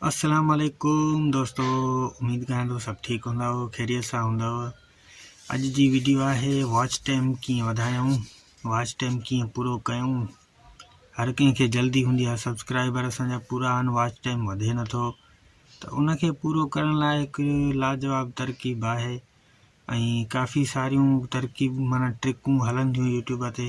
السلام عليڪم دوستو اميد ڪريان ٿو سڀ ٺيڪ هوندا خيريت سان هوندا اڄ جي ويڊيو آهي واچ ٽائم ڪيئن وڌايون واچ ٽائم ڪيئن پورو ڪيون هر ڪنهن کي جلدي هوندي آهي سبسڪرائبر اسان جا پورا آهن واچ ٽائم وڌي نٿو ته ان کي پورو ڪرڻ لاء هڪ لاجواب ترڪيب آهي ۽ ڪافي ساريون ترڪيب مانا ٽرڪون هلنديون يوٽيوب تي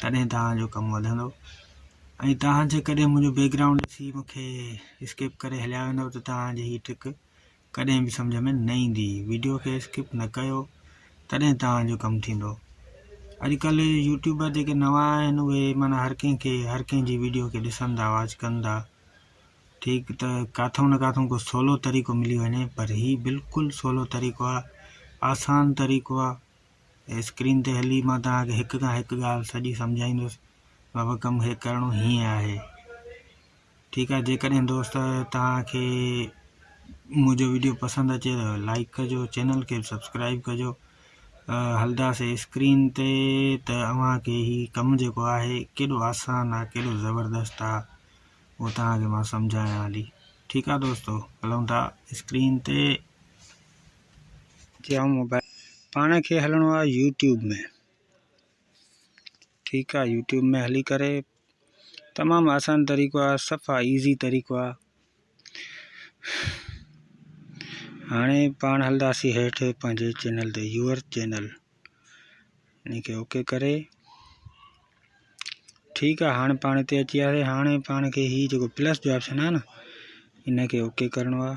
تڏهن توهان جو ڪم وڌندو ۽ توهان جيڪڏهن منهنجو بيڪ گرائونڊ ڏسي مونکي اسڪپ ڪري هليا ويندو ته توهان جي هي ٽرڪ ڪڏهن به سمجهه ۾ نه ايندي ويڊيو کي اسڪپ نه ڪيو تڏهن توهان جو ڪم ٿيندو اڄڪلهه يوٽيوبر جيڪي نوان آهن اهي مانا هر ڪنهن کي هر ڪنهن جي ويڊيو کي ڏسن ٿا واچ ڪن ٿا ٺيڪ ته ڪاٿو نه ڪاٿو ڪو سولو طريقو ملي وڃي پر هي بلڪل سولو طريقو آسان طريقو ۽ اسڪرين تي هلي مان توهان کي هڪ کان هڪ ڳالهه سڄي سمجهائيندس بابا ڪم هي ڪرڻو هيئن آهي ٺيڪ آهي جيڪڏهن دوست توهان کي منهنجو ويڊيو پسند اچي ته لائڪ ڪجو چينل کي سبسڪرائب ڪجو هلداسي اسڪرين تي ته اوهان کي هي ڪم جيڪو آهي ڪيڏو آسان آهي ڪيڏو زبردست آهي اهو توهان کي مان سمجهايان هلي ٺيڪ آهي دوستو هلون ٿا اسڪرين تي جيئون موبائل پاڻ کي هلڻو آهي يوٽيوب ۾ ٺيڪ آهي يوٽيوب ۾ هلي ڪري تمام آسان طريقو آهي صفا ايزي طريقو آهي هاڻي پاڻ هلنداسي هيٺ پنهنجي چينل تي يور چينل ان کي اوڪي ڪري ٺيڪ آهي هاڻي پاڻ هتي اچي وياسي هاڻي پاڻ کي هي جيڪو پلس جو آپشن آهي نه ان کي اوڪي ڪرڻو آهي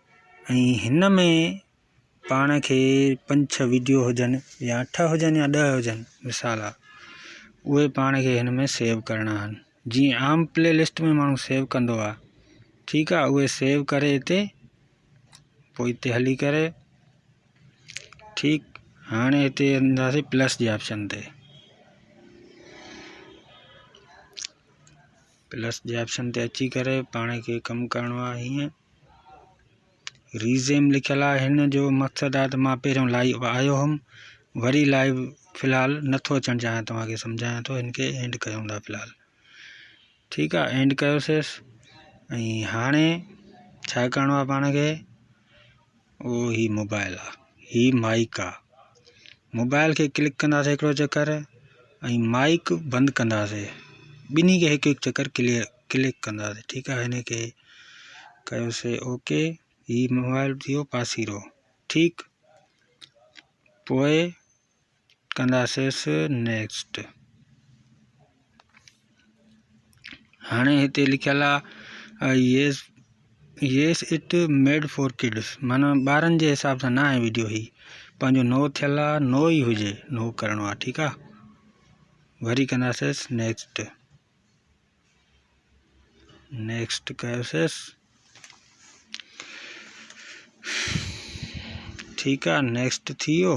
۽ هن ۾ پاڻ کي پنج ڇهه ويڊيو هجن يا اٺ هجن يا ڏهه هجن مثال آ اهي پاڻ کي هن ۾ سيو ڪرڻا آهن جيئن عام پلي لسٽ ۾ ماڻهو سيو ڪندو آ ٺيڪ آ اهي سيو ڪري هتي پوء هتي هلي ڪري ٺيڪ هاڻي هتي انداسي پلس جي آپشن تي پلس جي آپشن تي اچي ڪري پاڻ کي ڪم ڪرڻو آهي هيئن ريزيم لکيل آهي هن جو مقصد آهي ته مان پهريون لائيو آيو هوم وري لائيو فلحال نٿو اچڻ چاهيان توهانکي سمجهايان ٿو هن کي اينڊ ڪيون ٿا فلحال ٺيڪ آهي اينڊ ڪيوسيس ۽ هاڻي ڇا ڪرڻو آهي پاڻ کي اهو هي موبائل آ هي مائيڪ آ موبائل کي ڪلڪ ڪنداسي هڪڙو چڪر ۽ مائيڪ بند ڪنداسي ٻنهي کي هڪ هڪ چڪر ڪليئر ڪلڪ ڪنداسي ٺيڪ آ هن کي ڪيوسي اوڪي هي موبائل ٿيو پاسيرو ٺيڪ پوء ڪنداسيس نيڪسٽ هاڻي هتي لکيل آهي yes yes it made for kids مانا ٻارن جي حساب سان نه آهي ويڊيو هي پنهنجو نو ٿيل آ نو ئي هجي نو ڪرڻو آ ٺيڪ آ وري ڪنداسيس نيڪسٽ نيڪسٽ ڪيوسيس ٺيڪ آ نيڪسٽ ٿي ويو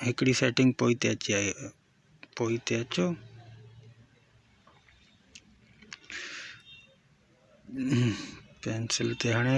هڪڙي سيٽنگ پوئي تي اچي آئي پوئي تي اچو پينسل تي هڻي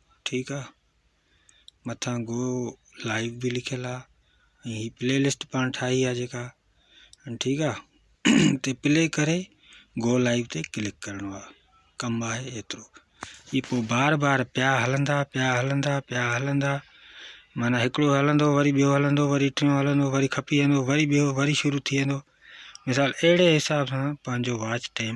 ٺيڪ آ مٿان گو لائيو به لکيل آ ۽ هي پلي لسٽ پاڻ ٺاهي آ جيڪا ٺيڪ آ تي پلي ڪري گو لائيو تي ڪلڪ ڪرڻو آ ڪم آهي ايترو هي پو بار بار پيا هلندا پيا هلندا پيا هلندا معنی هڪڙو هلندو وري ٻيو هلندو وري ٽيون هلندو وري کپي ويندو وري ٻيو وري شروع ٿي ويندو مثال اهڙي حساب سان پنهنجو واچ ٽائم